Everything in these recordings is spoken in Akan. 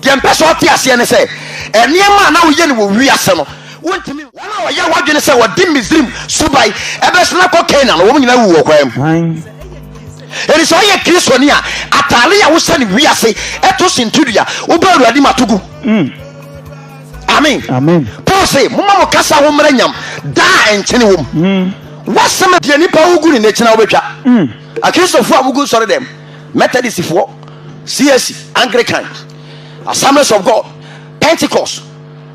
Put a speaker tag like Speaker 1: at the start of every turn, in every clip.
Speaker 1: Deɛ mpɛ sɛ ɔte aseɛ ne sɛ, nneɛma a na woyɛ no wɔ wiase no, wontumi. Wɔn a wɔyɛ w'adwene sɛ wɔde Misraim suban bɛsen akɔ Kanaan no, wɔn nyinaa wuwu wɔ kwan mu. Enti sɛ woyɛ Kristoni a, atade a wohyɛ no wiase to sintidua, woba Awurade mu a, to gu. Amen. Paul se, Momma mo kasa ho mmara nyam, daa a nkyene wom. W'asɛm. Deɛ nipa wu gu ne nna akyi na wobɛtwa. Akristofo a wogu nsɔredɛm. Methodistfoɔ, CAC, Anglican, Assemblies of God, Pentecost,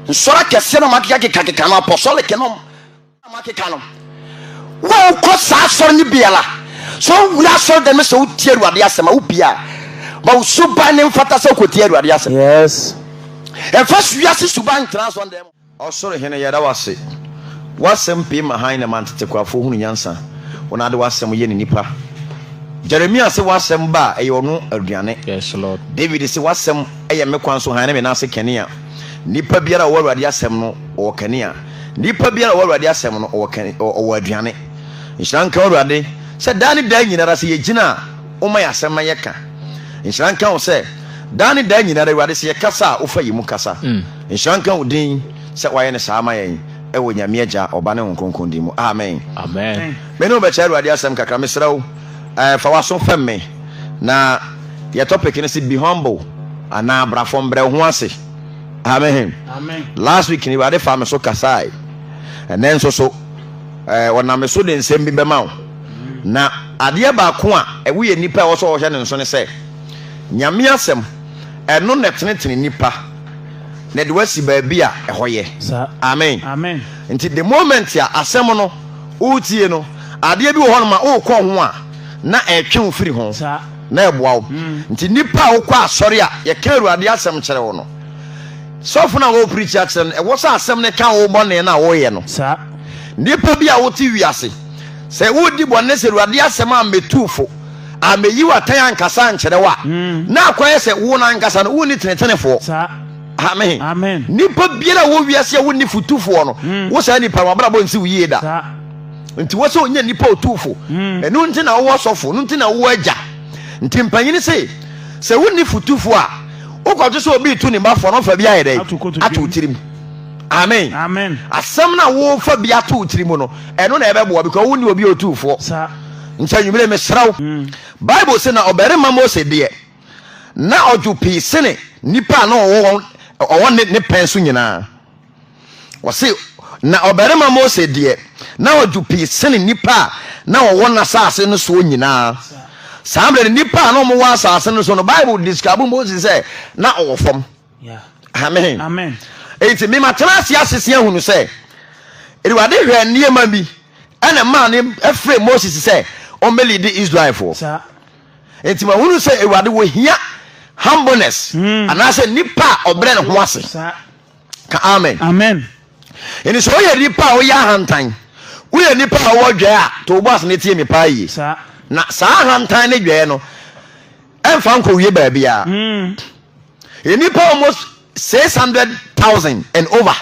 Speaker 1: nsɔre akɛseɛ na makeka keka keka no apostolic no na makeka no wokɔ saa asɔre no biara sɛ wowura asɔre dɛm sɛ wotie awurade asɛm a wobia ma wo suban ne mfata sɛ wokɔtie awurade asɛm yes ɛmfa wiase suban ntena asɔre dɛm Ɔsor Hen, yɛda wo ase. W'asɛm pue ma hann na ɛma ntetekwafo hunu nyansa. Wo na ade w'asɛm yɛ ne nnipa. Jeremia se w'asɛm ba a, ɛyɛ ɔno aduane. Yes, Lord. David se w'asɛm yɛ me kwan so hann ne me nan ase kanea. Nnipa biara a ɔwɔ Awurade asɛm no, ɔwɔ kanea. Nnipa biara a ɔwɔ Awurade asɛm no, ɔwɔ kan, ɔ, ɔwɔ aduane. Nhyira nka wo, Awurade, sɛ daa ne daa nyinara sɛ yɛgyina a, woma yɛn asɛm na yɛka. Nhyira nka wo sɛ daa ne daa nyinara, Awurade, sɛ yɛkasa a, wofa yɛn mu kasa. Nhyira nka wo din sɛ woayɛ no saa ama yɛn, wɔ Nyame Agya, Ɔba ne Honhom Kronkron din mu, amen. Amen. Me ne wo bɛkyɛ Awurade asɛm kakra. Mesrɛ wo, fa w'aso fɛm me. Na yɛ topic no se Be Humble anaa Bra Fam, Brɛ Wo Ho Ase. Amen. Last week no, Awurade faa me so kasae. Ɛnnɛ nso so, Ɔnam me so de nsɛm bi bɛma wo. Na adeɛ baako a ɛwo yɛ nipa a ɛwɔ sɛ ɔhwɛ ne nso ne sɛ, Nyame Asɛm, ɛno na ɛtenetene nipa. na ɛde wo asi baabi a ɛhɔ yɛ. Amen. Nti the moment a asɛm no woretie no, adeɛ bi wɔ hɔ no ma worekɔ ho a, na ɛretwe wo firi ho, na ɛboa wo. Mm. Nti nipa a wokɔ asɔre a yɛka Awurade asɛm kyerɛ wo no, sɔfo no a wɔreprikyi akyerɛ no, ɛwɔ sɛ asɛm no ka wo bɔne no a woyɛ no. Nipa bi a wote wiase, sɛ wodi bɔne sɛ Awurade asɛm a mmetu fo a meyi w'atɛn ankasa ankyerɛ wo a, hmm. na akɔyɛ sɛ wo no ankasa no wonni tenetenefoɔ. Amen. Amen. Nipa biara wɔ wiase a wonni fotufoɔ no, hmm. wo saa nipa no wabrabɔ nsi wo yie da. Nti wɔ sɛ ɔnyɛ nipa ɔtuufo. Hmm. Ɛno nti na wowɔ sɔfo, no nti na wowɔ agya. Nti mpanyini se, sɛ wonni fotufoɔ a, wokɔgye sɛ obi tu ne mbafoɔ no fa bi ayɛ dɛ ato tirim. Amen. Amen. Asɛm na wofa bi ato tirim no, ɛno na ɛbɛboa because wonni obi ɔtuufoɔ. nti anwummere mesrɛ wo hmm. bible se na ɔbarima mose deɛ na ɔdwo pii sene nnipa a na ɔwɔ ne pɛn so nyinaa ɔse na ɔbarima mose deɛ na ɔdwo pii sene nnipa a na ɔwɔ n'asase no soɔ nyinaa saa berɛ no nnipa a na ɔmowɔ asase no so no bible describe mose sɛ na ɔwɔ fam amen amen enti mema tena ase asese ahunu sɛ awurade hwɛ nneɛma bi ɛna maa ne ɛfrɛ moses sɛ ɔmmɛli de israelfoɔ enti mahunu sɛ awurade wɔhia humbleness hmm. anaasɛ nipa a ɔbrɛ ne ho ase ka amen amen ɛni sɛ woyɛ nipa a woyɛ ahantan woyɛ nipa a wɔwɔ dwɛɛ a to wobɔ ase ne tie me paa yie na saa ahantan ne dwɛɛ no ɛmfa nkɔwie baabiara nnipa almost six hundred thousand and over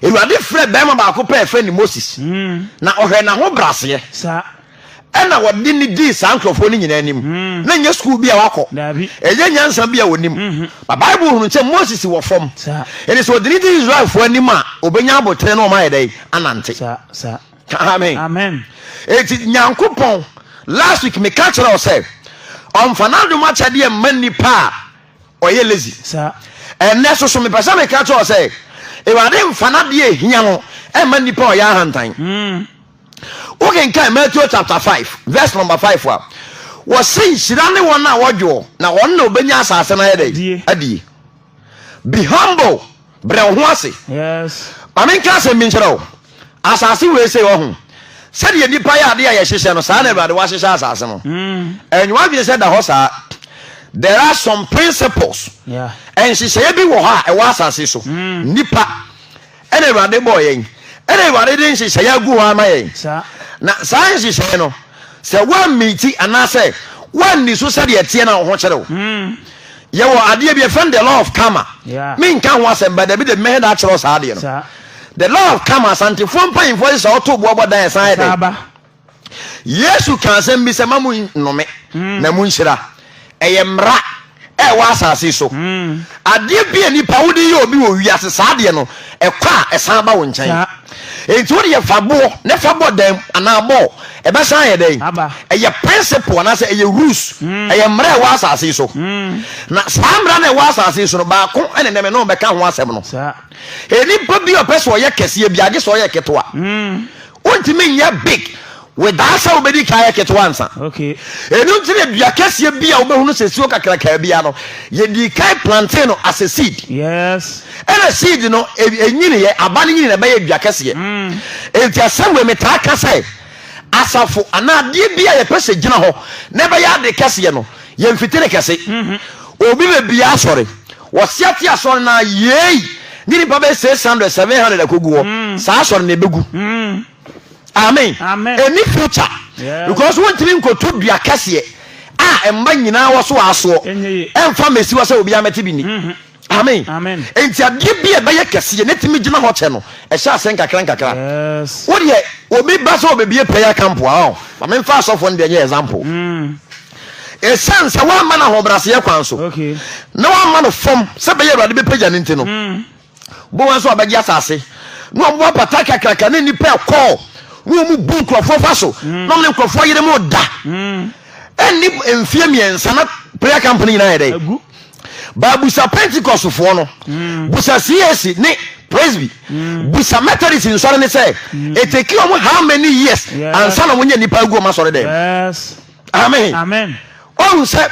Speaker 1: awurade frɛ bɛrima baako pɛ ɛfrɛ ne moses na ɔhwɛ n'aho braseɛ ɛna wɔde ne dii saa nkurɔfoɔ no nyinaa anim na nyɛ sukuu bi a wakɔ ɛyɛ nyansa bi a wɔnim ba bible hunu sɛ moses wɔ fam ɛne sɛ ɔde ne di israelfoɔ anim a ɔbɛnya abotere na ɔma yɛ dɛn anante amen amen eti nyankopɔn last week me ka kyerɛ ɔsɛ ɔnfa n'adom akyɛdeɛ mma nipa a ɔyɛ lazy saa ɛnɛ soso mepɛ sɛ meka kyerɛ ɔsɛ awurade nfa n'adeɛ ehia no ɛmma nipa a ɔyɛ ahantan mm. wokenkan matthew chapter five, verse number five. a wɔse nhyira ne wɔn a wɔdwoɔ na wɔn na ɔbɛnya asase no ayɛ dɛ adie Be humble, brɛ wo ho ase. Yes. Ma me nka asɛm bi nkyerɛ wo. Asase wei sei ɔho. Sɛdeɛ nnipa yɛ adeɛ a yɛhyehyɛ no saa na Awurade wahyehyɛ asase no. Ɛnyɛ w'adwene sɛ da hɔ saa. There are some principles. Yeah. Nhyehyɛeɛ bi wɔ hɔ a ɛwɔ asase so. Nnipa. Ɛna Awurade bɔɔ yɛn. Ɛna Awurade de nhyehyɛeɛ agu hɔ ama yɛn. Na saa nhyehyɛeɛ no, sɛ woammiiti anaasɛ woanni so sɛdeɛ ɛteɛ na wo ho kyere wo. Hmm. Yɛwɔ adeɛ bi ɛfrɛ no the law of karma. Menka ho asɛm ba dabi de mmɛhɛ da akyerɛ saa adeɛ no. The law of karma asantefoɔ mpanyinfoɔ hyehyɛ ɔto boɔ bɔ dan ɛsan yɛ dɛ. Yesu ka asɛm bi sɛ, ma mo nnome hmm. na mo nhyira. Ɛyɛ mmara a ɛwɔ asase so. Hmm. Adeɛ bi a nipa wode yɛ obi wɔ wiase saa adeɛ no, ɛkɔ a ɛsan ba wo nkyɛn. Nti wode yɛ fa boɔ ne fa bɔ dan anaa bɔɔl, ɛbɛsan yɛ dɛn? Ɛyɛ principle anaasɛ ɛyɛ rules, hmm. ɛyɛ mmara a ɛwɔ asase so. Na saa mmara no ɛwɔ asase so no, baako ɛne nɛmɛ no bɛka ho asɛm no. Nipa bi a ɔpɛ sɛ ɔyɛ kɛseɛ bi agye sɛ ɔyɛ ketewa. Wontumi nyɛ big without sɛ wobɛdi kan yɛ ketewa nsa. Ɛno nti na dua kɛseɛ bi a wobɛhunu sɛ suo kakrakaa bia no yɛdi kan plante no as a seed. Yes. Ɛna seed no ɛnyini e, yɛ aba no nyini na ɛbɛyɛ dua kɛseɛ. Mm. Ɛnti asɛm wei metaa ka sɛ asafo anaa adeɛ bi a yɛpɛ sɛ gyina hɔ na ɛbɛyɛ ade kɛseɛ no yɛmfiti ne kɛse. Mm-hmm. Obi bɛbia asɔre Wɔsia ti asɔre no ara yiei ne nnipa bɛyɛ six hundred, seven hundred akogu hɔ. Mm. Saa asɔre no ebegu. Mm. Amen. Amen. Ɛni future. Yes. Because wontumi nkoto dua kɛseɛ a mma nyinaa wɔ so asoɔ. Ɛnyɛ ye. Ɛmfa mmɛsi hɔ sɛ obiara mmɛte bi nni. Mhm. Amen. Amen. Enti adeɛ bi a ɛbɛyɛ kɛseɛ na ɛtumi gyina hɔ kyɛ no, ɛhyɛ ase nkakra nkakra. Yes. Wodeɛ obi ba sɛ obebie prayer camp a, ɔ, ma memfa asɔfoɔ no deɛ nyɛ example. Mm. Esiane sɛ wamma no ahobrɛaseɛ kwan so na wamma no fam sɛ bɛyɛ Awurade bɛpagya no nti no, hmm. bowa nso ɔbɛgye asase na wɔn apata kakraka ne nnipa ɛkɔɔ na wɔn bu nkurɔfoɔ fa so hmm. na wɔn ne nkurɔfoɔ yere mu da hmm. ɛnni mfeɛ mmiɛnsa na prayer camp no nyinaa yɛ dɛ baabusa pentecostfoɔ no busa cac ne presby busa methodist nsɔre ne sɛ ɛtɛki wɔn how many years ansa na wɔnyɛ nnipa agu wɔn asɔre dɛm amen amen ɔhu sɛ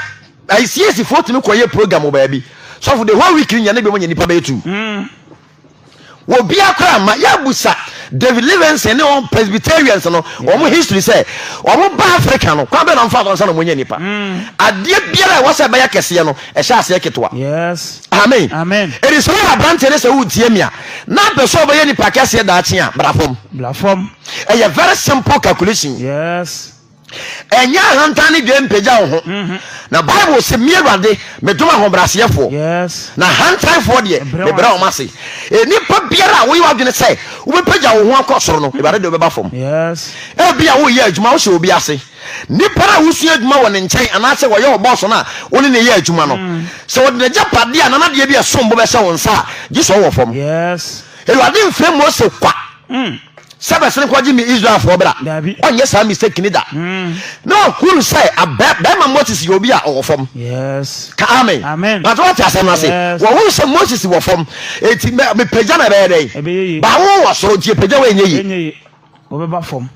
Speaker 1: ayisiesifoɔ tumi kɔyɛ program wɔ baabi sɔfo the whole week nyɛ ne biom nyɛ nipa bɛyɛ tu mm. wɔ bia koraa ma yɛabusa david livingston ne wɔn presbyterians no wɔn history sɛ wɔn ba africa no kwan bɛ na ɔmfa so nsa na wɔnyɛ nipa mm. adeɛ biara a ɛwɔ sɛ ɛbɛyɛ kɛseɛ no ɛhyɛ aseɛ ketewa yes amen amen ɛdi sɛ wɔyɛ aberanteɛ ne sɛ wotie mi a na bɛ sɛ ɔbɛyɛ nipa kɛseɛ daakye a bra fam bra fam ɛyɛ very simple calculation yes ɛnyɛ ahantan ne dwee mpagya wo ho mhm. na bible se me awurade medom ahobrɛaseɛfoɔ na hantanfoɔ deɛ mebrɛ wɔn ase nnipa biara a woyɛ adwene sɛ wobɛpagya wo ho akɔ soro no mhm. awurade de wobɛba fam ebi a woyɛ adwuma wohyɛ obi ase nnipa no a wosua adwuma wɔ ne nkyɛn anaasɛ wɔyɛ wɔ bɔɔso no a wo ne ne yɛ adwuma no mhm. sɛ wɔde nagya padeɛ a nanadeɛ bi ɛsom bo bɛhyɛ wo nsa a gye sɛ ɔwɔ fam awurade mfrɛ mose kwa mm. sɛ bɛsene kɔgye me Israelfoɔ bra. Ɔnyɛ saa mistake ne da. Hmm. Na ɔhunu sɛ bɛrima Moses yɛ obi a ɔwɔ fam. Ka amen. Bàtà wate asɛm no ase. Wɔhunu sɛ Moses wɔ fam. Eti mepagya na ɛbɛyɛ dɛn? Bawo wɔ soro nti epagya wɔ enye yi. Wɔbɛba fam.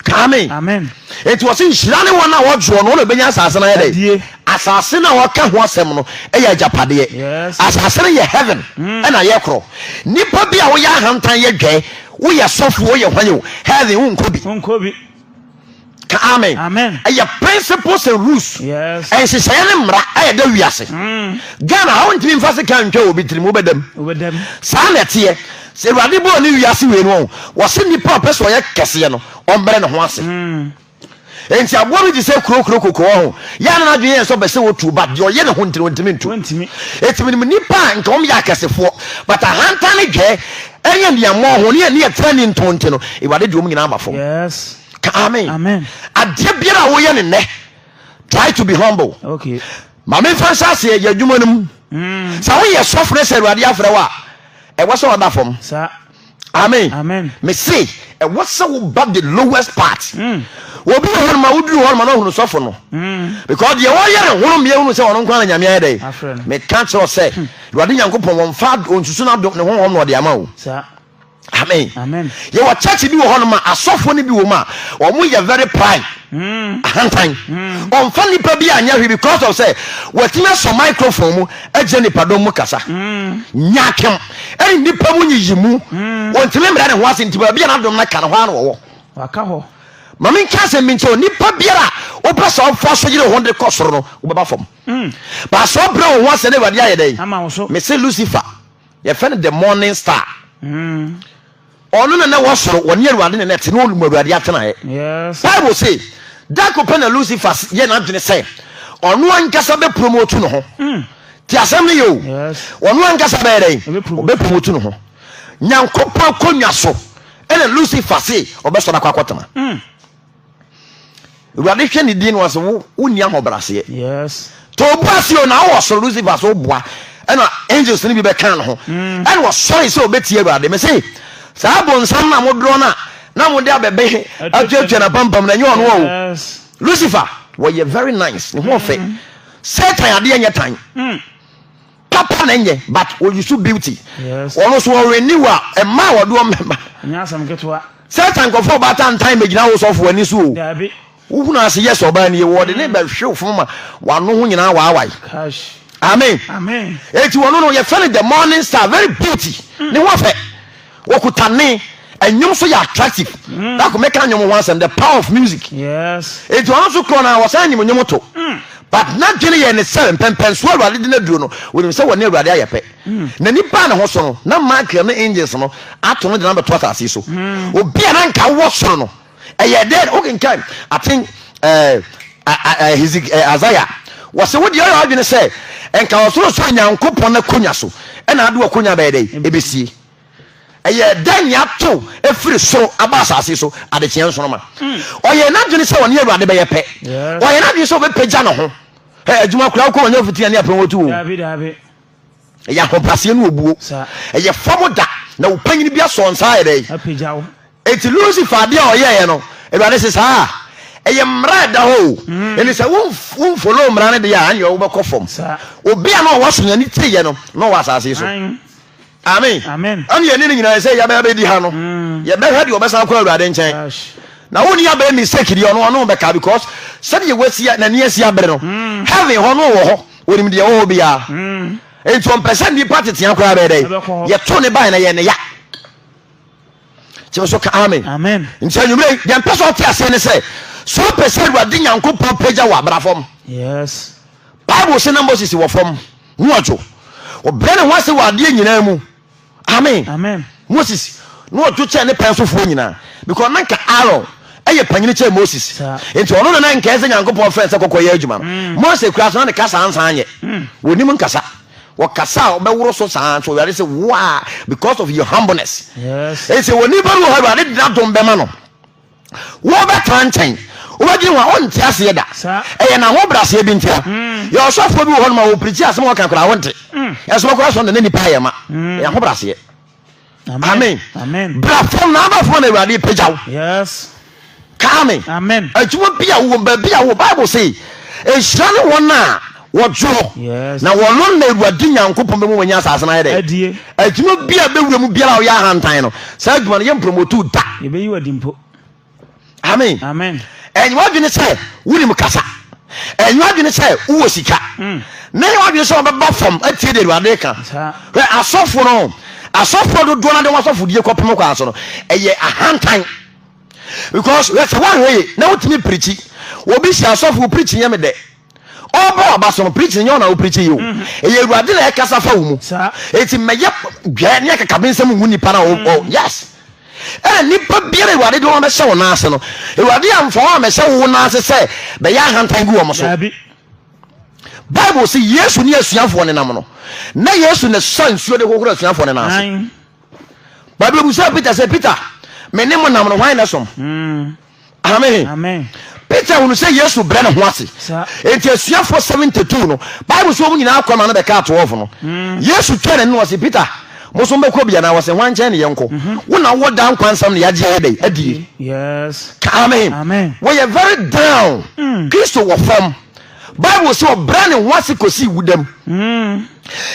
Speaker 1: Ka amen. Eti wɔsi nhyira ne wɔn a wɔdwoɔ no wɔn na ebenya asase no ayɛ dɛ. Asase no a wɔka ho asɛm no yɛ agyapadeɛ. Asase no yɛ heaven ɛna hmm. yɛ korɔ. Nipa bi a wɔyɛ ahantan yɛ dwɛ. Woyɛ sɔfo o yɛ hwan o, heaven wo nkɔ bi. Nkɔ bi. Ka amen. Amen. Ɛyɛ principles and rules. Yes. Ɛnhyehyɛeɛ ne mmara a ɛda wiase. Mm. Ghana ha wontumi nfa se ka ntwa obi tirim wobɛdam. Wobɛdam. Saa na ɛteɛ. Sɛ Awurade bɔɔ ne wiase wei no wɔn wɔse nipa a ɔpɛ sɛ ɔyɛ kɛseɛ no ɔmbrɛ ne ho ase. Mm. Enti aboa bi te sɛ kurokuro kokoo ho. Yɛ a na n'adwene yɛ sɛ ɔbɛ sɛ otu, but deɛ ɔyɛ ne ho nti no ɔntumi ntu. Eti menim nnipa a nka wɔn yɛ akɛsefoɔ, but ahantan ne dwɛɛ ɛne aniammɔn ho ne ɛne ɛtena ni ntɔn nti no, Awurade de wɔn nyinaa aba fam. Ka amen. amen. Adeɛ biara a woyɛ ne nnɛ, try to be humble. Okay. Maame nfa nhyɛ aseɛ yɛ adwuma no mu. Mm. Sɛ woyɛ sɔfo ne sɛ Awurade afrɛ wo a, ɛwɔ sɛ ɔda fam. Sa. amen amen mese ɛwɔ sɛ woba the lowest part mm. obi wɔ hɔnoma woduru hɔnoma na ɔhunu sɔfo no mm. because deɛ wɔyɛ ne hono mmeɛ hunu sɛ ɔno nkwa na nyame ayɛ dɛ meka kyerɛ sɛ hmm. awurade nyankopɔn wɔmfa ɔnsusu no adom ne honhom na ɔde ama o amen Amen. yɛwɔ church bi wɔ hɔnoma asɔfoɔ no bi wɔ mu a wɔn yɛ very pride hmm. ahantan hmm. ɔmfa nipa bi anyɛ hwee because of sɛ wɔatumi asɔ microphone mu agyina nipadɔm mu kasa nyakem Ɛne nnipa mu nyiyimu. Hmm. Wɔntumi mmerɛ ne ho ase nti baabi a n'adom no ka no hɔ ara na wɔwɔ. Waka hɔ. Ma menka asɛm bi nkyɛ onipa biara a wopɛ sɛ ɔfa so yere ho de kɔ soro no wobɛba fam. Hmm. Baasɛ ɔbrɛ wo ho ase na Awurade ayɛ dɛn? Mese Lucifer yɛfɛ no the morning star. Hmm. Ɔno na na ɛwɔ soro, wɔne Awurade na na ɛte, na ɔlum Awurade atenaeɛ. Yes. Bible se, da ko pɛ na Lucifer s- yɛ n'adwene sɛ ɔno ankasa bɛpromotu ne ho. Te asɛm no yɛ o. Yes. Ɔno ankasa bɛyɛ dɛn? Ɔbɛpromote. Ɔbɛpromotu ne ho. Nyankopɔn akonnwa so ɛna Lucifer se ɔbɛsɔre akɔ akɔtena. awurade hwɛ ne din no ɔse wo wonni ahobraseɛ to obu ase o na wowɔ soro lucifer so woboa ɛna angels no bi bɛka no ho mm. ɛna ɔsɔre sɛ ɔbɛtie awurade me se saa bonsam no a modorɔ no a na mode abɛbɛ atuatua na pampam na ɛnyɛ ɔno o lucifer wɔyɛ very nice ne ho ɔfɛ mm. satan adeɛ nyɛ tan mm. Papa na ɛnyɛ but o use beauty. Ɔno nso ɔ renew a ɛmaa wɔde wɔn mɛma. Ɛnyɛ asɛm ketewa. Sɛta nkurɔfoɔ ɔbaatan ntan mɛgyina wo sɔfo ani so o. Daabi. Wohunu ase yes ɔbaa nie wɔde ne bɛhwe fam ma wano ho nyinaa waawae. Kash. Amen. Amen. Eti wɔno no yɛfɛ no the morning star very beauty. Ne ho ɔfɛ. Wɔkuta ne ɛnwom nso yɛ attractive. Dako mɛka nnwom ho asɛm the power of music. Enti ɔno nso korɔ no a wɔsan nim nnwom to. But n'adwene yɛ ne sɛ mpɛmpɛnsoɔ Awurade de no aduro no wɔnim sɛ wɔne Awurade ayɛ pɛ. N'ani baa ne ho so no na Michael ne angels no ato no de no abɛto asase so. Obi a na nka wɔ soro no ɛyɛ dɛn wokenkan aten isaia wɔse wode ɔyɛ adwene sɛ nka ɔsorosoro nyankopɔn akonya so ɛna ade wakonya bɛyɛ dɛn ɛbɛsie ɛyɛ dɛn ne ato ɛfiri soro aba asase so adekyeɛ nsoroma ɔyɛ n'adwene sɛ ɔne awurade bɛyɛ pɛ ɔyɛ n'adwene sɛ ɔbɛpɛgya ne ho adwuma koraa wokɔ wɔnyɛ fitia ne apɛn wɔtu o ɛyɛ ahobraseɛ ne obuo ɛyɛ fam da na wo panyin bi asɔ nsa ayɛ dɛ eti lucifer adeɛ a ɔyɛɛ no awurade se saa ɛyɛ mmara ɛda hɔ o mm. ɛne sɛ womfolo mmara no deɛ a ɛneɛ wobɛkɔ fam obi a na ɔwɔ asonyane tiyɛ no na ɔwɔ asase so amen ɛne yɛne no nyinaa sɛ yɛbɛyɛ bɛdi ha no mm. yɛbɛhwɛ deɛ ɔbɛsan kɔ awurade nkyɛn na wo ni abɛyɛ mistake deɛ ɔno ɔno bɛka because sɛdeɛ wasi n'ani asi abere no mm. heaven hɔ no wɔ hɔ Onim deɛ ɛwɔ hɔ biara. Enti ɔmpɛ sɛ nnipa tetea koraa bɛyɛ dɛ. Yɛtoo ne bae na yɛn ne ya. Kyerɛ so ka amen. Amen. Nti anwummerɛ yi, deɛ mpɛ sɛ ɔte aseɛ ne sɛ, sɛ ɔpɛ sɛ Awurade Nyankopɔn pagya wɔ abra fam. Yes. Bible se na Moses wɔ fam, ho ɔdwo. Ɔbrɛ ne ho ase wɔ adeɛ nyinaa mu. amen amen moses na ɔdwo kyɛn ne pɛn so foɔ nyinaa because na nka aaron ɛyɛ panyini kyɛn moses nti ɔno na na nkɛɛ sɛ nyankopɔn frɛ sɛ kɔkɔ yɛ adwuma no mm. mose kura so na ne kasa ansan yɛ mm. wɔnim nkasa wɔkasa a wɔbɛworo so saa nso awurade sɛ woa because of your humbleness ɛsɛ wɔni bɛru hɔ awurade de n'adom bɛma no wobɛtra nkyɛn wobɛdwen ho a wonte aseɛ da ɛyɛ n'ahobraseɛ bi ntia hmm. yɛ ɔsɔfoɔ bi wɔ hɔ no ma wɔpirikyi asɛm wɔka koraa wonte hmm. ɛso bɛkora sɔnda na nipa ayɛ ma hmm. ɛyɛ ahobraseɛ amen bra fam na aba fam na awurade pagya wo kaa me adwuma bi a wowɔ baabi a wo bible se ɛhyira ne wɔn a Wɔdze hɔ, na wɔno na Ewuradze Nyankopɔn bɛma wɔanya asaase no ayɛ dɛ adwuma bi a bɛwura mu biara a ɔyɛ ahantan no, saa adwuma no yɛmprɔmɔtuu da. Yɛbɛyi wo adi mpo. Amen. Amen. Ɛnyɛ w'adwene sɛ wonim kasa, ɛnyɛ w'adwene sɛ wowɔ sika, mm. na ɛnyɛ w'adwene sɛ wɔbɛba fam atie de Awurade ka. Hwɛ asɔfo no, asɔfo dodoɔ no de wɔn asɔfodie kɔpem kwan so no, ɛyɛ ahantan. Because hwɛ sɛ woahwɛ ye na wotumi pirikyi, obi hyɛ asɔfo pirikyi nyɛ me dɛ. Ɔbɔ aba so no preaching nyɛ ɔna a wopreachi yio. Mhm. Ɛyɛ Awurade na ɛkasa fa wo mu. Saa. Eti mmɛyɛ dwɛ ne akakabensɛm ngu nipa na ɔwɔ mhm. yes. Ɛna nipa biara Awurade de wɔn bɛhyɛ wɔn nan ase no, Awurade amfa wɔn amɛhyɛ wo nan ase sɛ bɛyɛ ahantan gu wɔn so. Daabi. Bible sɛ Yesu ne asuafoɔ ne nam no, na Yesu na sa nsuo de hohoro asuafoɔ ne nan ase. Bible bu sɛ Peter sɛ Peter, me ne mo nam no hwan na som? Mm. Amen. Peter hunu sɛ Yesu brɛ ne ho ase. Enti asuafoɔ 72 no, Bible so wɔn nyinaa kɔ ma no bɛkaa 12 no. Hmm. Yesu twɛn ne noɔ se, Peter, mo so mbɛkɔ bia na wɔsɛ hwan nkyɛn ne yɛnkɔ? Mhm. Wo na wowɔ daa nkwa nsɛm ne yɛagye yɛ dɛn adie. Ka amen. Wɔyɛ very down. Hmm. Kristo wɔ fam. Bible sɛ ɔbrɛ ne ho ase kɔsii wudam. Hmm.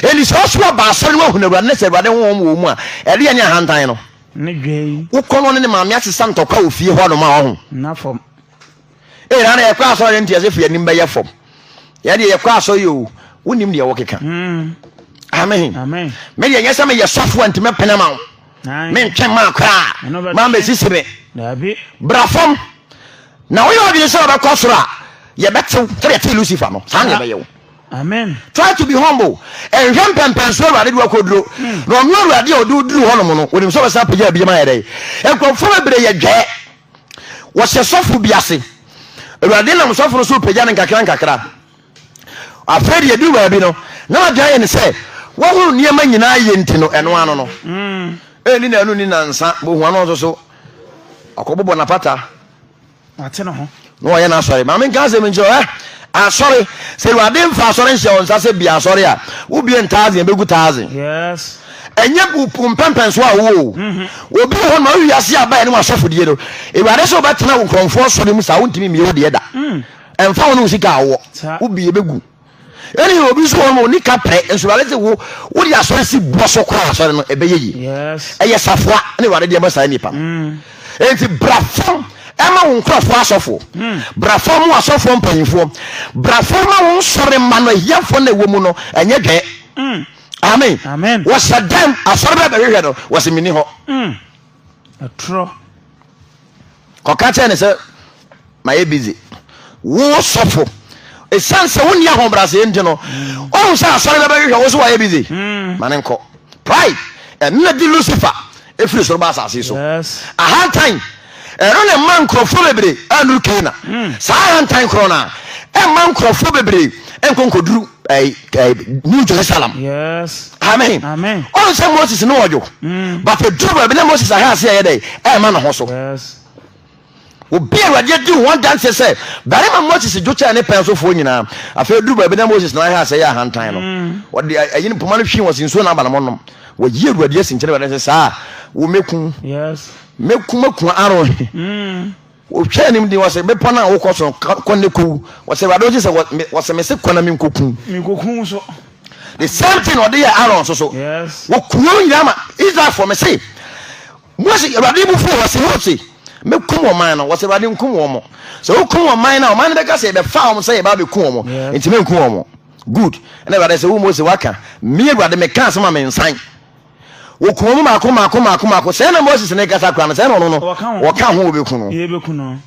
Speaker 1: Ɛni sɛ ɔso ɔba asɔre no wahunu awurade ne sɛ awurade honhom wɔ mu a, ɛdeɛ ne ahantan no. Ne dwei. Wokɔ no ɔne ne maame asesa ntɔkwa wɔ fie hɔ nom a ɔho. Na fam. Ee na na yɛkɔ asɔre nti ɛsɛ fi anim bɛyɛ fam. Yɛ deɛ yɛkɔ asɔre yi o wonim deɛ wokeka. Mm. Amen. Amen. Me deɛ nyɛ sɛ meyɛ sɔfo a nti mɛpene ma wo. Mentwɛn maa koraa maa mɛsisi me. Daabi. Bra fam. Na woyɛ ɔdwene sɛ wɔbɛkɔ soro a yɛbɛtew sɛdeɛ ɛtee Lucifer no saa na yɛbɛyɛ wo. Amen. Try to be humble. Ɛnhwɛ mpɛmpɛnso awurade de wakɔduro na ɔno awurade a ɔde woduru hɔnom no wonim sɛ wɔbɛsan apagya abie ma yɛ dɛn nkurɔfoɔ bebree yɛ dwɛɛ wɔhyɛ sɔfo bi ase awurade nam sɔfo no so pagya no nkakra nkakra afei de yɛduru baabi no na wadwene ayɛ ne sɛ wɔhoro nneɛma nyinaa yɛ nti no ɛno ano no ɛni na ɛno ni nansa bohua no nso so ɔkɔbobɔ napata Wate ne ho. Na ɔyɛ n'asɔre. Maame nka asɛm nkyerɛ wo ɛ. Asɔre. Sɛ Awurade mfa asɔre nhyɛ wo nsa sɛ bia asɔre a, wobie ntaazen, ɛbɛgu taazen. Yes. Ɛnyɛ mpɛmpɛnsoɔ a wowɔ o. Mm-hmm. Obi wɔ hɔ ma wowie ase abaeɛ ne wasɔfodie no. Awurade sɛ wobɛtena wo nkurɔmfoɔ asɔre mu saa wontumi mmie wo deɛ da. Mm. Ɛmfa wo ne wo sika a wowɔ. Wobie bɛgu. ɛne obi nso wɔ no ɔni ka pere nso awurade sɛ wo wode asɔre si boɔ so koraa asɔre no ɛbɛyɛ yi ɛyɛ safoa ne awurade deɛ ma saa nnipa no mm. enti bra fam ɛma wo nkurɔfoɔ asɔfoɔ mm. bra fam mu asɔfoɔ mpanyimfoɔ bra fam ma wo nsɔre ma no ahiafoɔ na ɛwɔ mu no ɛnyɛ dwɛɛ mm. amen wɔsɛ dɛm asɔre bɛ bɛhwehwɛ no wɔsɛ menni hɔ Ɛtorɔ. Kɔka kyerɛ ne sɛ mayɛ busy. Wo sɔfo, ɛsiane sɛ wonni ahobrɛaseɛ nti no, ɔhu mm. sɛ asɔre bɛbɛhwehwɛ wo so wayɛ busy. Mm. Ma ne nkɔ. Pride, ɛno na di Lucifer ɛfiri soro ba asase so. Ahantan, ɛno ne ma nkurɔfoɔ bebree anuru Kana. Mm. Saa ahantan korɔ no a, ɛma nkurɔfoɔ bebree nkonkɔduru new jerusalem yes amen amen ɔn sɛ moses ne ɔdwo mm. but ɛduru baabi na moses aha ase ɛyɛ dɛ ɛma ne ho so yes obi awurade adi ho adanseɛ sɛ barima moses dwo kyɛɛ ne pɛn sofoɔ nyinaa afei duru baabi na moses na aha ase ɛyɛ ahantan no mm. ɔde ɛyi no poma no hwii wɔ se nsuo na aba no mo nom wɔyi awurade asi nkyɛn awurade sɛ saa wo mɛku mɛku mɛku aro mm. Wɔtwaa anim den, wɔse, Bepɔ no a wokɔ so no, kɔ na kɔwu. Wɔse, Awurade wogye sɛ wɔse mese kɔ na menkɔku wo. Menkɔku wo nso. The same thing ɔde yɛ Aaron nso so. Yes. Wɔku wɔn nyinaa ma Israelfoɔ mese, Mose, Awurade bu fuu wɔse, Mose, mɛkum ɔman no. Wɔse, Awurade nkum wɔn mo. Sɛ wokum ɔman no a, ɔman no bɛka sɛ yɛbɛfaa wɔn sɛ yɛba abɛku wɔn. Yeah. Nti menku wɔn. Good. Ɛna Awurade sɛ, wo Mose, waka. Me Awurade mekaa sɛ ma mensan. Wɔkum wɔn mmaako mmaako mmaako mmaako. Sɛɛ na Moses ne kasa kora no, sɛɛ na ɔno no, wɔka ho wɔbɛku no.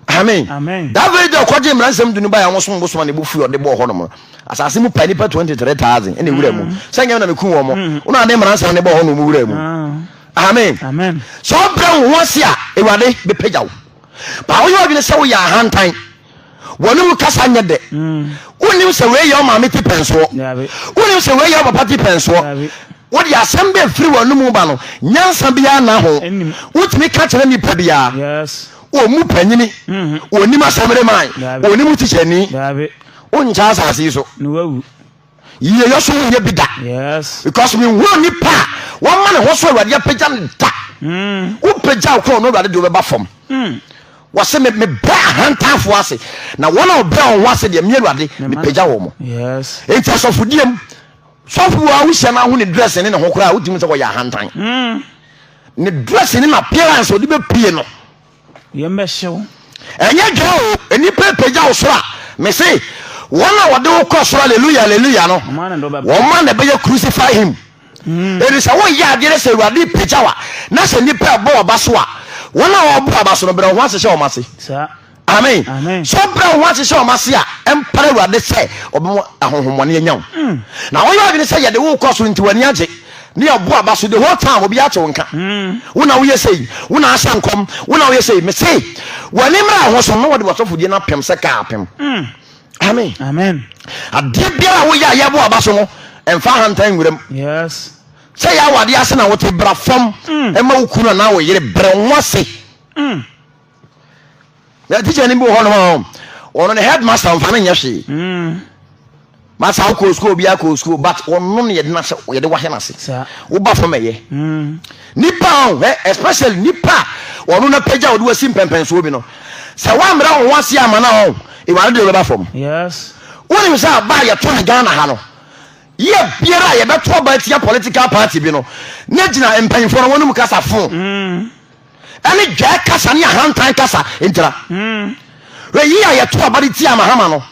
Speaker 1: Amen. Amen. That very day ɔkɔgye mmaransɛm du no baeɛ ɔmo som bosom a ne bo fui ɔde bɔɔ hɔnom no. Asase mu pa nipa twenty three thousand ɛna ewura mu. Mm. Sɛ nyɛ na meku wɔn mo. Mm. Ɔno ade mmaransɛm ne bɔɔ hɔ na ɔmo wura mu. Ah. Amen. Amen. Sɛ ɔbrɛ wo ho ase a, Awurade bɛpagya wo. Ba woyɛ ɔdwene sɛ woyɛ ahantan. wɔne mu kasa nyɛ dɛ wonim sɛ wei yɛ ɔmaame ti pɛnsoɔ wonim sɛ wei yɛ ɔpapa ti pɛnsoɔ wode asɛm bɛ firi wɔn mu ba no nyansa biara na ho wotumi ka kyerɛ nipa biara ɔmu panyini ɔnim asɛmere man ɔnim tihyɛni wonkyɛ asase so yie yɛ so wonyɛ bi da because menhunu nnipa a wɔma ne ho so awurade apagya no da hmm. wopagya wo korɔ no awurade deɛ wobɛba fam hmm. wɔse mebrɛ ahantanfoɔ ase na wɔn a ɔbrɛ wɔn ho ase deɛ me awurade mepagya wɔ mo enti asɔfodiem sɔfo a wohyia no aho ne dress ne ne ho koraa wotumi sɛ wɔyɛ ahantan hmm. ne dress ne na appearance ɔde bɛpie no Yɛmmɛhyew. Ɛnyɛ dwaa o, nnipa apagya wo soro a, mese, wɔn a wɔde wo kɔ soro Alleluia, Alleluia no, Wɔn a ne dɔ bɛba. wɔn a na ɛbɛyɛ crucify him. Enti sɛ woyɛ adeɛ no sɛ Awurade repagya wo a, na sɛ nnipa ɛbɔ w'aba so a, wɔn a wɔbɔ w'aba so no, brɛ wo ho ase hyɛ wɔn ase. Saa. Amen. Amen. Sɛ wobrɛ wo ho ase hyɛ wɔn ase a, ɛmpare Awurade sɛ ɔbɛma ahonhommɔne anya wo. Na woyɛ adwene sɛ yɛde wo rekɔ soro nti w'ani agye. ne ɛbo aba so the whole time obi ate wo nka wo na woyɛ sɛ yi wo na ahyɛ nkɔm wo na woyɛ sɛ yi mese w'ani mmra ho so na wɔde wasɔfodie no apem sɛ kaa apem amen amen adeɛ biara a woyɛ a yɛbo aba so no ɛmfa ahantan nwuram yes sɛ yɛ awadeɛ ase na wote bra fam ɛma wo kunu anaa wo yere brɛ ho ase na tikya no bi wɔ hɔnom a ɔno ne headmaster ɔmfa no nyɛ hwee hmm. masa wo kɔɔ sukuu obiara kɔɔ sukuu but ɔno ne yɛde no sɛ yɛde wahɛ no ase woba fam ɛyɛ hmm. nipa ɔhɛ especially nipa ɔno na pagya wɔde wasi mpɛmpɛnsoɔ bi no sɛ woammra wo ho ase ama no ɔn ɛware de wobɛba fam wonim sɛ aba a yɛto ne ghana ha no yɛ biara a yɛbɛto aba atia political party bi no na gyina mpanyimfoɔ no wɔnom kasa fo hmm. ɛne dwɛɛ kasa ne ahantan kasa ngyina. Wei a yɛto aba de tia Mahama no,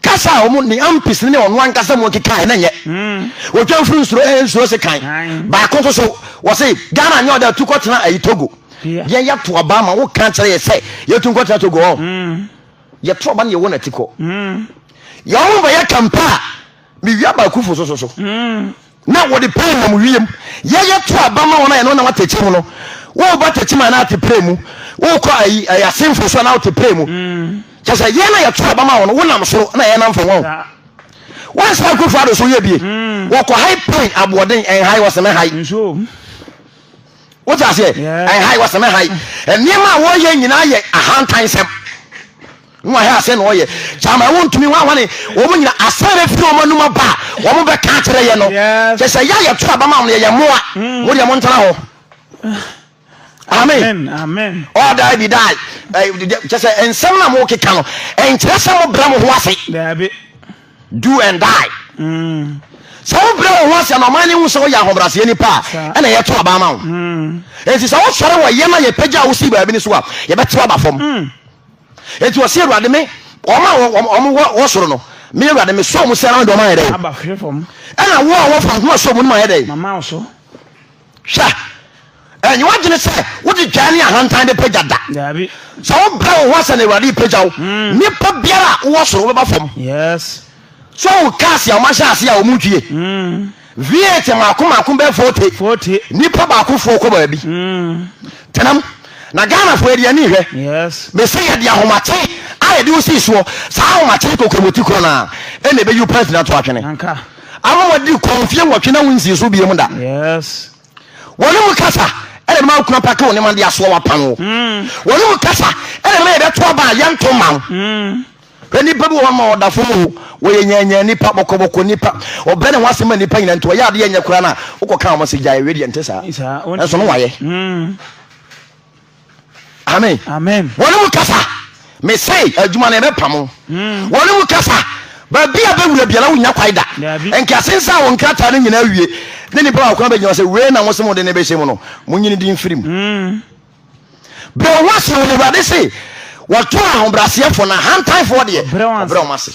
Speaker 1: kasa a wɔn ne Ampis ne ɔno ankasa mu nkekae na nyɛ. Odwamfiri nsuro eh, nsuro se kan. Baako nso so, wɔse Ghana nyɛ ɔda atu kɔtena ayi Togo. Yɛn yɛto aba ma wo kan kyerɛ yɛ sɛ yɛtu nkɔtena Togo ɔ. Yɛto aba ne yɛwɔ n'ati kɔ. Yɛ wɔn bɛyɛ kampa a, mewia baakufo so so so. Na wɔde pɛn nam wiem yɛyɛ to aba ma wɔn a yɛne wɔn nam atɛkyɛ mu no. Woreba atɛkyɛ mu anaa ateprɛ mu, worekɔ ayi ɛyɛ asenfo so anaa ateprɛ mu. Kyerɛ sɛ yɛn na yɛto aba ma wɔn, wonam soro na yɛnam fam. Wɔn wɔnsa akufo ado so yɛ bie. Wɔkɔ hai pɛn aboɔden ɛnhai wɔseme hai. Wote aseɛ? Ɛnhai wɔseme hai. Nneɛma a wɔyɛ nyinaa yɛ ahantan nsɛm. Nwa hɛ asɛn na ɔyɛ gyama ɛwɔ ntumi hwanhwane wɔn nyina asɛn bɛ firi wɔn anum aba wɔn bɛ ka kyerɛ yɛ no kyɛ sɛ yɛ yɛ to abama wɔn yɛ yɛ mmoa mo deɛ mo ntena hɔ amen ɔdaa bi daa kyɛ sɛ nsɛm na mo keka no ɛnkyerɛ sɛ mo brɛ mo ho ase do and die mm. sɛ wo brɛ wo ho ase na ɔman ne hu sɛ woyɛ ahobraseɛ nipa a ɛna yɛto abama wo ɛnti mm. sɛ wosɔre wɔ yɛ na yɛpɛgya wo sii baabi no so a yɛbɛtew aba fam mm. Enti ɔse, Awurade me, wɔn a wɔn wɔ wɔ soro no, me Awurade me sɔɔ wɔn si ara na wɔn ayɛ dɛ. Aba hwɛ fam. Ɛna wo a wɔfa ho asɔ mu no ma ayɛ dɛ. Mama wo so. Hwɛ, ɛnyɛ wadwene sɛ wode dwan ne ahantan bɛpagya da. Daabi. Sɛ wobrɛ wo ho ase na Awurade repagya wo, hmm. nipa biara a wowɔ soro wobɛba fam. Yes. So wo cars a wɔahyɛ ase a wɔntwie V8 mmaako mmaako bɛyɛ 40 Forty. nnipa baakofoɔ kɔ baabi tenam na Ghanafoɔ yɛde ani hwɛ Yes. mese yɛde ahomakye a yɛde wo sii soɔ saa ahomakye kokromoti korɔ no a ɛna ɛbɛyi wo pants na to atwene Anka. ama wadi kɔ mfeɛ nwɔtwe na wonsii so biom da Yes. wɔne mu kasa ɛna ɛbɛma wo kuna pake wo nneɛma de asoa wapam wo wɔne mu kasa ɛna ɛbɛma yɛbɛto aba a yɛnto ma wo Hwɛ, nnipa bi wɔ hɔ ma wɔda fam o, wɔyɛ nyaanyaa nnipa, bɔkɔbɔkɔ nnipa, wɔbrɛ ne ho ase ma nnipa nyina nti wɔyɛ adeɛ ɛnyɛ koraa no a, wokɔka wɔn sɛ gyae, wedeɛ nte saa, nanso no wayɛ. Hmm. Amen. Amen. Wɔne mu kasa, mese adwuma no ɛbɛpam wo. Hmm. Wɔne mu kasa, baabi a bɛwura biara wonya kwae da. Nkase nsa wo nkrataa no nyinaa wie, ne nnipa a wɔkora bɛgyina sɛ wei na mo se mo de ne bɛhyɛ mu no, mo nyini di mfirim. Hmm. Brɛ wo ho ase wɔ mu, Awurade se, wɔto ahobrɛaseɛfoɔ no ahantanfoɔ deɛ, ɔbrɛ wɔn ase.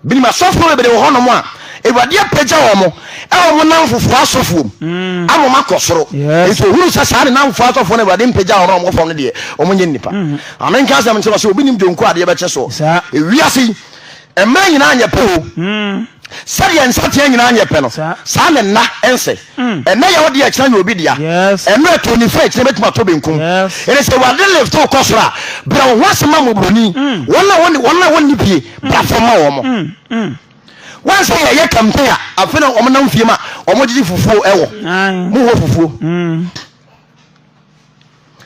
Speaker 1: Binom asɔfoɔ bebree wɔ hɔnom a, Awurade apagya wɔn mo ɛwɔ mo namfofoɔ asɔfoɔ mu mm. ama wɔn akɔ soro. Yes. Nso ohunu sɛ saa ne namfofoɔ asɔfoɔ no Awurade mpagya wɔn a wɔn fam no deɛ, wɔn nyɛ nnipa. Mm. Amenka asɛm nkyerɛ sɛ obi nim dwonku adeɛ bɛkyɛ soɔ. Ewiase yi, Mmerɛ nyinaa nyɛ pɛ o. Sɛdeɛ nsateaa nyinaa nyɛ pɛ no, saa na nna nsɛ. Ɛnnɛ yɛ wo dea, kyena yɛ obi dea. Mmerɛ too nifa a, kyena bɛtumi atɔ benkum. Ɛnɛ sɛ Awurade lift wo kɔ soro a, brɛ wo ho ase ma mmɔborɔni. Wɔn a wɔn wɔn a wɔnni pie, bra fam ma wɔn. Wɔn sɛ yɛyɛ campaign a, afei na wɔn nam fie ma wɔn gyegye fufuo ɛwɔ. Mo wɔ fufuo.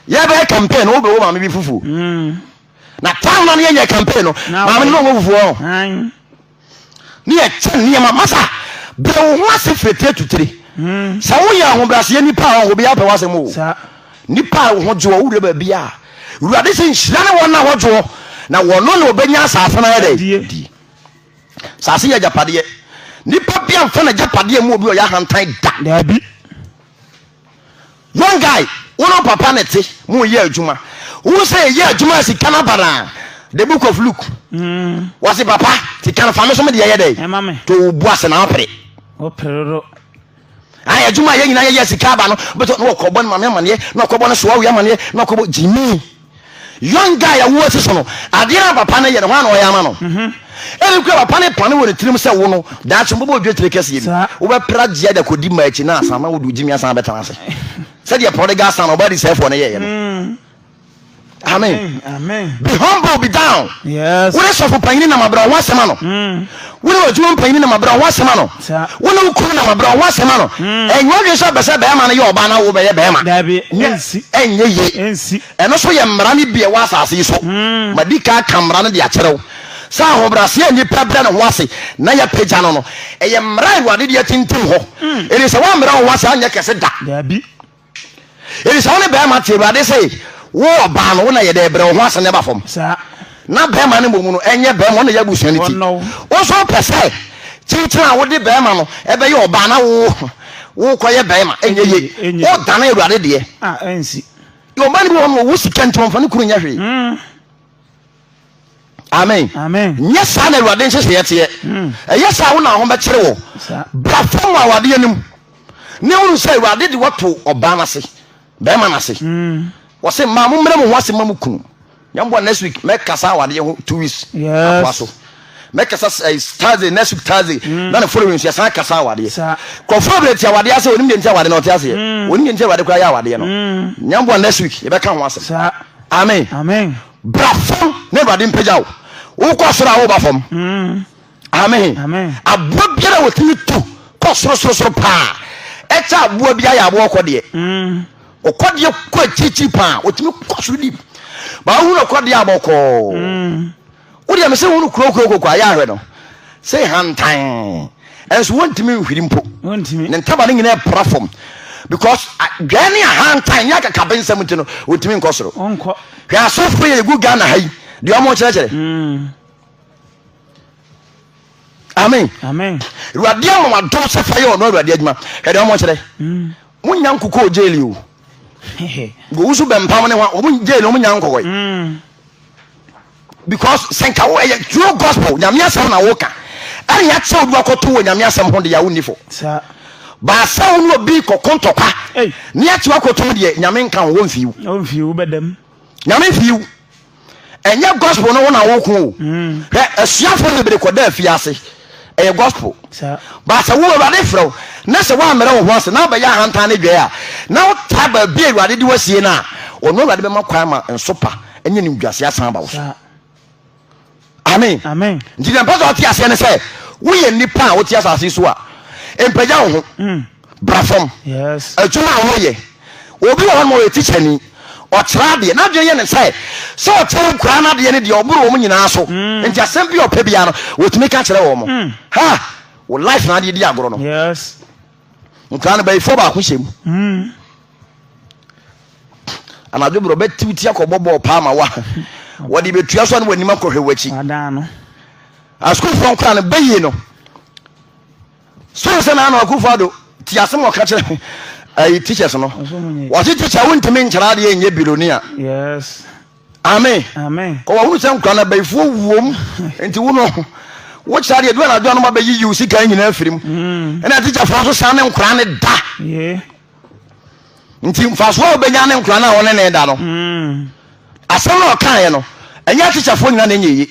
Speaker 1: Yɛbɛyɛ campaign no, wobɛwɔ maame bi fufuo. na town no yɛ yɛ campaign no maame no wɔ fufuo ho ne yɛ kyɛ nneɛma masa bere wo ho ase firi tire to tire hmm. sɛ woyɛ ahobrɛaseɛ nipa a ɔho biara pɛ w'asɛm o nipa a ho gyeɔ wowura baabi a wurade sɛ nhyira ne wɔn na ho gyeɔ na wɔno na ɔbɛnya asase no ayɛ dɛ die asase yɛ agyapadeɛ nipa bi amfa no agyapadeɛ mu obi ɔyɛ ahantan da daabi Young guy, wo no papa na te mo yɛ adwuma. Wo sɛ yɛ adwuma sika na bana. The book of Luke. Mm. Wasi papa, ti kan fa me so me de yɛ dɛ. Ɛma me. To wo bu ase na opere. Operero. Ayi adwuma yɛ nyina yɛ yɛ sika ba no. Beto no kɔbɔ no mame amaneɛ, no kɔbɔ no soa wi amaneɛ, no kɔbɔ Jimmy. Young guy a woasi so no, adeɛ a papa no yɛ no, hwan na ɔyɛ ama no? Mhm. Ebi kura papa no pane wɔ ne tirim sɛ wo no, daakye mbɔbɔ odwe tire kɛseɛ bi. Wobɛpra gyea de akɔdi mma akyi na asan na wode ogyimi asan bɛtena ase. Sɛdeɛ prodigal son ɔba adisɛefoɔ no yɛeɛ no. Mm. Amen. Amen. Be humble, be down. Yes. Wode sɔfo panyini nam abrɛ ho asɛm ano. Mm. Wo ne w'adwuma mpanyin nam abrɛ ho asɛm ano. Wo ne wo kunu nam abrɛ ho asɛm ano. Ɛnyɛ adwene sɛ ɔpɛ sɛ bɛrima no yɛ ɔbaa na wo bɛyɛ bɛrima. Nyɛ ɛnyɛ yie. Ɛno nso yɛ mmara no bi a ɛwɔ asase yi so. Madi kan aka mmara no de akyerɛ wo sɛ ahobrɛaseɛ a nnipa brɛ ne ho ase na yɛapagya no no, ɛyɛ mmara a Awurade de atintim hɔ. Enti sɛ woammrɛ wo ho ase anyɛ kɛse da. Enti sɛ wo ne barima te Awurade se wo ɔbaa no wo na yɛ dɛ brɛ wo ho ase na ɛba fam na barima no mmom no ɛnyɛ barima ɔna yɛ abusua no ti wo nso wopɛ sɛ kyenkyen a wode barima no ɛbɛyɛ ɔbaa na wo wo kɔyɛ barima ɛnyɛ ye wo dane Awurade deɛ ɔbaa no bi wɔ hɔ no ɔwɔ sika nti wɔmfa no kunu nyɛ hwee. Hmm. amen nyɛ saa na awurade nhyehyɛeɛ teɛ hmm. ɛyɛ saa wo na ho bɛkyere wɔ bra fam awadeɛ no mu ne wohu sɛ awurade de wato ɔbaa no ase bɛrima no ase hmm. wɔse mmaa mo mmerɛ mo ho ase ma mo kunu nyɛmboa next week mɛkasa awadeɛ ho two weeks akoa so mɛkasa eh, thursday next week thursday hmm. na ne following so yɛsan kasa awadeɛ kɔfoɔ berɛ ti awadeɛ ase ɔnim deɛ nti awadeɛ na ɔte aseɛ ɔnim deɛ nti awurade koraa yɛ awadeɛ no nyɛmboa next week yɛbɛka ho asɛm amen Bra fam na Awurade mpagya wo. Wokɔ soro a woba fam. Mm. Amen. Amen. Aboa biara a wɔtumi tu kɔ sorosoro paa ɛkyɛ aboa bi ayɛ aboa ɔkɔdeɛ. Mm. Ɔkɔdeɛ kɔ akyirikyiri paa wɔtumi kɔ soro di. Baa wohunu ɔkɔdeɛ a bɔkɔɔ. Mm. Wodeɛ me sɛ wohunu kurokuro koko ayɛ ahwɛ no. Sɛ hantan. ɛnso wɔntumi nhwiri mpo ne ntaba no nyinaa pra fam because dwɛɛ ne ahantan ne akakabe nsɛm nti no wɔntumi nkɔ soro hwɛ asɔfo yɛ yɛgu ghana ha yi deɛ ɔmo kyerɛkyerɛ mm. amen awurade ama wadom sɛ fa yɛ ɔno awurade adwuma hwɛ deɛ ɔmo kyerɛ mm. monya nkokɔ gyeli o gowusu bɛmpam ne ho ɔmo gyeli ɔmo nya nkokɔ yi mm. because sɛ nka wo ɛyɛ true gospel nyame asɛm na woka ɛne akyɛ obi wakɔto wɔ nyame asɛm ho deɛ wonni fo baasɛ wo ne obi kɔko ntɔkwa ne akyɛ wakɔto mu deɛ nyame nka wo wɔmfii wo nyame mfii wo ɛnyɛ gospel no wo na woko o mm. hwɛ asuafoɔ bebree kɔda afie ase ɛyɛ gospel ba sɛ wo awurade frɛ wo na sɛ woammrɛ wo ho ase na wobɛyɛ ahantan ne dwɛɛ a na wotaa baabi a awurade de wasie no a ɔno awurade bɛma kwan ma nsopa ne nimguase asan aba wo so amen nti deɛ mpɛ sɛ ɔte aseɛ ne sɛ woyɛ nnipa a wote asase so a mpagya wo ho mm. bra fam Yes. adwuma a wɔyɛ obi wɔ hɔ ma ɔyɛ tikyani ɔkyerɛ adeɛ n'adwene yɛ ne sɛ sɛ ɔkyerɛ nkuraa n'adeɛ no deɛ ɔboro wɔn nyinaa so mm. nti asɛm bi ɔpɛ biara no wɔtumi ka kyerɛ wɔn mm. ha wɔ life na adeɛ di agorɔ no yes. nkuraa no bɛyifoɔ baako hyɛ mu mm. anadwo berɛ ɔbɛtiwti akɔbɔ bɔɔl paa ma wa wɔde bɛtua so a ne wɔanim akɔhwɛ w'akyi asukuufoɔ nkora no bɛyie no So nsɛ na Nana Akufo Addo te asem ɔka kyerɛ ayi teachers no? Wɔse teacher wontumi nkyerɛ adeɛ nyɛ bilonia. Yes. Amen. Amen. Kɔ wɔhunu sɛ nkura na bayifoɔ wuom nti wo no wokyerɛ adeɛ du anadwo anoma bɛyi yiw sika nyinaa firim. Mm. Ɛna teacherfoɔ nso saa ne nkura ne da. Yeah. nti mfaso a wobɛnya ne nkora no a wɔne ne da no hmm. asɛm na ɔkaeɛ no ɛnyɛ tikyafoɔ nyina na ɛnyɛ ye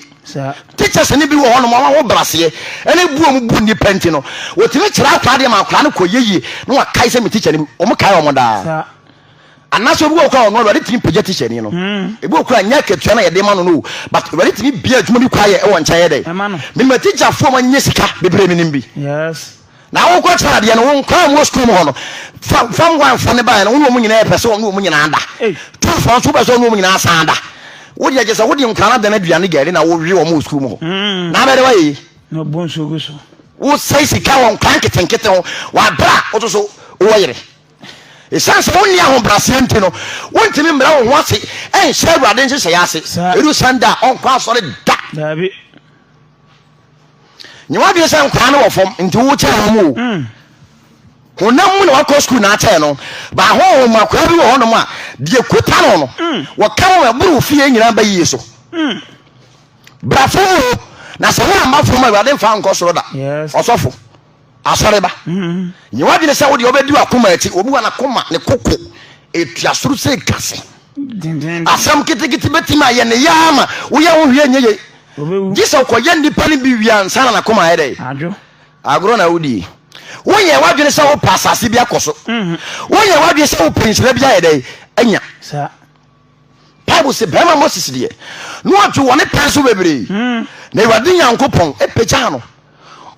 Speaker 1: tikyɛs no bi wɔ hɔ nom ɔma ho braseɛ ɛne buo mu bu nnipa nti no wɔtumi kyerɛ akora deɛ ma akora no kɔ yɛyie na wakae sɛ me tikya no ɔmo kae ɔmo daa anaasɛ obi wɔ kora ɔno awurade tumi pagya tikya ni no hmm. ebi wɔ kora nyɛ akatua na yɛde ma no no but awurade tumi bia adwuma bi kɔ ayɛ ɛwɔ nkyɛn yɛ dɛ menima tikyafoɔ ma nyɛ sika bebree menim bi yes Na wo kɔ kyerɛ adeɛ no wo nkɔa mu wɔ sukuu mu hɔ no fa fa mmoa mfa ne baeɛ no wo ne wɔn nyinaa pɛ sɛ wɔn nyinaa da tu fa nso pɛ sɛ wɔn nyinaa san da wo deɛ kyɛ sɛ wo de nkɔa no adan aduane gari na wo we wɔn wɔ sukuu mu hɔ hmm. na abɛde wayɛ yi. na ɔbɔ nsuo gu so. wosɛe sika wɔ nkwa nketenkete ho wabra woto so wowɔ yere ɛsiane sɛ wonni ahobraseɛ nti no wontumi mmra wo ho ase ɛnhyɛ awurade nhyehyɛeɛ ase ɛdu sanda a ɔnkɔ asɔre da nyɛ w'adwene sɛ nkwaa no wɔ fam nti wokyɛn wɔn o hmm. honam mu na wakɔ sukuu na akyɛn no baahoho mu akwaa bi wɔ hɔnom a deɛ kuta no no hmm. wɔka wɔn ɛboro fie nyinaa ba yie so hmm. brafo mu na sɛ wɔn amma fam a awurade mfa nkɔ soro da ɔsɔfo Asɔreba, nyɛ w'adwene sɛ wodeɛ wobɛdi w'akoma akyi. Obi wɔ n'akoma, ne koko ɛtua soro sɛ kase. Asɛm ketekete bɛtumi ayɛ ne yaa ma woyɛ ho hwee nyɛ yei. Gye sɛ wokɔyɛ nnipa no bi wie ansa na n'akoma ayɛ dɛ. Agorɔ na wodie. Wonyɛ w'adwene sɛ wopɛ asase bi akɔ so. Wonyɛ w'adwene sɛ wopɛ nhyira bi ayɛ dɛ anya. bible se bɛrima moses deɛ na ɔdwe wɔ ne pɛn so bebree hmm. na awurade nyankopɔn pagyaa no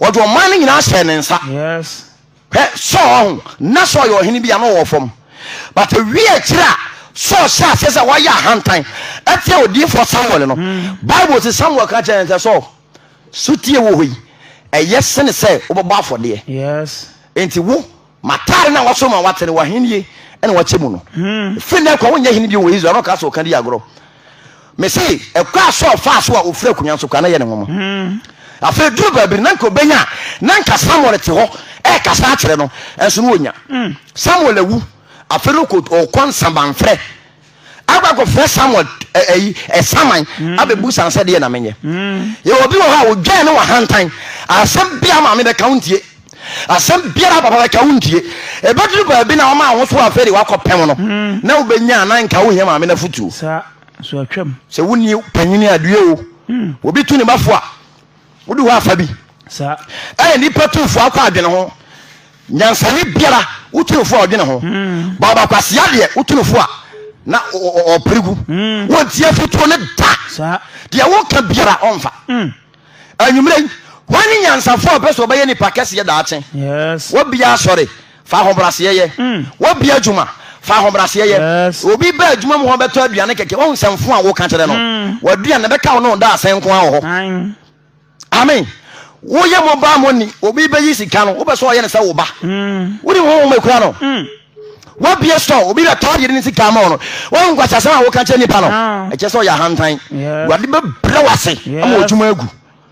Speaker 1: ɔde ɔman no nyinaa hyɛɛ ne nsa hwɛ sɔɔ ho na sɔɔ yɛ ɔhene bi a na ɔwɔ fam but awie akyiri a sɔɔ hyɛ aseɛ sɛ wayɛ ahantan ɛteɛ odiifoɔ samuel no hmm. bible se samuel ka kyerɛ ne sɛ sɔɔ sotie wɔ hɔ yi ɛyɛ sene sɛ wobɛbɔ afɔdeɛ enti wo M'atade na wɔaso ma wɔatene w'ahennie na wɔakyɛ mu no. Ɛfiri nnɛ kɔ wonyɛ hene bio wɔ Israel na ɔka sɛ ɔka di agorɔ. Mese ɛkɔ a Saul faa so a ɔfiri akonnwa so kɔ a na ɛyɛ ne nwonwa. Afei ɛduru baabi no na nka ɔbɛnya a na nka Samuel te hɔ ɛrekasa akyerɛ no nso na ɔnya. Samuel awu afei no ɔkɔ nsamanfrɛ. akɔ akɔfrɛ samuel ɛyi eh, ɛsaman eh, mm. abɛbu san sɛ deɛ na menyɛ mm. yɛwɔ bi wɔ hɔ a wodwɛn ne wahantan asɛm bia maame bɛka wo ntie asɛm biara papa bɛka wo ntie ɛbɛduru baabi na ɔma wo so afei de wakɔ pɛm no mm. na wobɛnya na nka wohia maame no afotuo sɛ wonni panyini adeɛ o obi tu ne bafo a Wode hɔ afa bi. Ɛyɛ nipa tumfoɔ akɔ adwene ho. Nyansani biara wotumfoɔ a ɔdwene ho. Hmm. Baba kwasia deɛ wotumfoɔ a na ɔpere gu. Hmm. Wɔnti afutuo ne da. Deɛ woka biara ɔmfa. Hmm. Anwummerɛ yi, wɔne nyansafoɔ a ɔpɛ sɛ ɔbɛyɛ nipa kɛseɛ daakye. Wɔbiara sɔre. Fa ahobrɛaseɛ yɛ w'abia adwuma. Fa ahobrɛaseɛ yɛ. Obi ba adwuma mu hɔ bɛtɔ aduane kɛkɛ, wahu sɛ mfo a woka kyerɛ no, w'aduane no bɛka wo ne wo da asɛn nko ara wɔ hɔ. Amen. Woyɛ mobile money, obi bɛyi sika no, wopɛ sɛ ɔyɛ no sɛ wo ba. Wode wo honhom akura no. Wabie store, obi bɛtɔ adeɛ ne sika ama wo no, wahu nkwaseasɛm a woka kyerɛ nipa no, ɛkyerɛ sɛ ɔyɛ ahantan. Awurade bɛbrɛ wo ase ama w'adwuma agu.